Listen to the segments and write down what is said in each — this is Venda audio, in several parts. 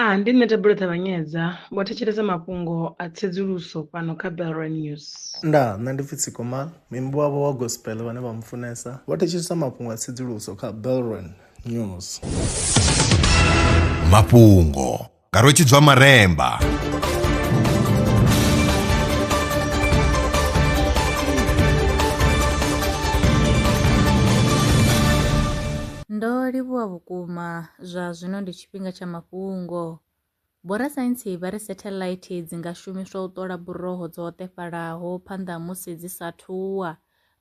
A Ndi nṋe Thabelo Ṱavhanyedza, vho thetshelesa mafhungo a tsedzuluso fhano kha Belrand News. Ndaa, nṋe ndi pfi Tsiko Mal, muimbi wavho wa gospel vhane vha mufunesa, vho thetshelesa mafhungo a tsedzuluso kha Belrand News. Mafhungo nga Rwetshidzwa Maremba. Ndo livhuwa vhukuma, zwa zwino ndi tshi. tshifhinga tsha mafhungo Vhorasaintsi vha ri satellite dzi nga shumiswa u ṱola buroho dzo hoṱefhalaho phanḓa musi dzi sa thuwa.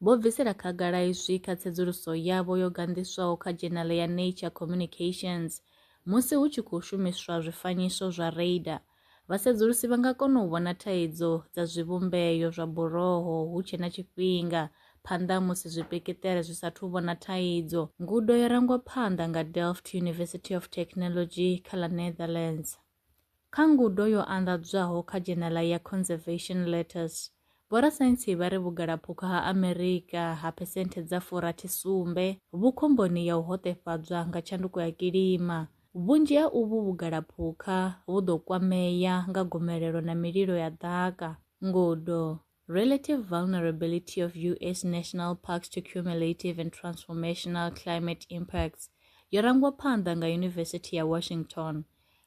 Vho bvisela khagala izwi kha tsedzuluso yavho yo ganḓiswaho kha dzhenale ya Nature Communications musi hu tshi khou shumiswa zwifanyiso zwa radar Vhasedzulusi vha nga kona u vhona thaidzo dza zwivhumbeo zwa buroho hu tshe na tshifhinga phanḓa ha musi zwipekeṱere zwi sathu vhona thaidzo. Ngudo yo rangwa phanḓa nga Delft University of Technology kha ḽa Netherlands. Kha ngudo yo anḓadzwaho kha dzhenela ya Conservation Letters, Vhorasaintsi vha ri vhugalaphukha ha Amerika ha phesenthe dza furathi sumbe vhu khomboni ya u hoṱefhadzwa nga tshanduko ya kilima. Vhunzhi ha uvhu vhugalaphukha vhu ḓo kwamea nga gomelelo na mililo ya ḓaka. Ngudo, Relative Vulnerability of US National Parks to Cumulative and Transformational Climate Impacts, yo rangwa phanḓa nga Yunivesithi ya Washington.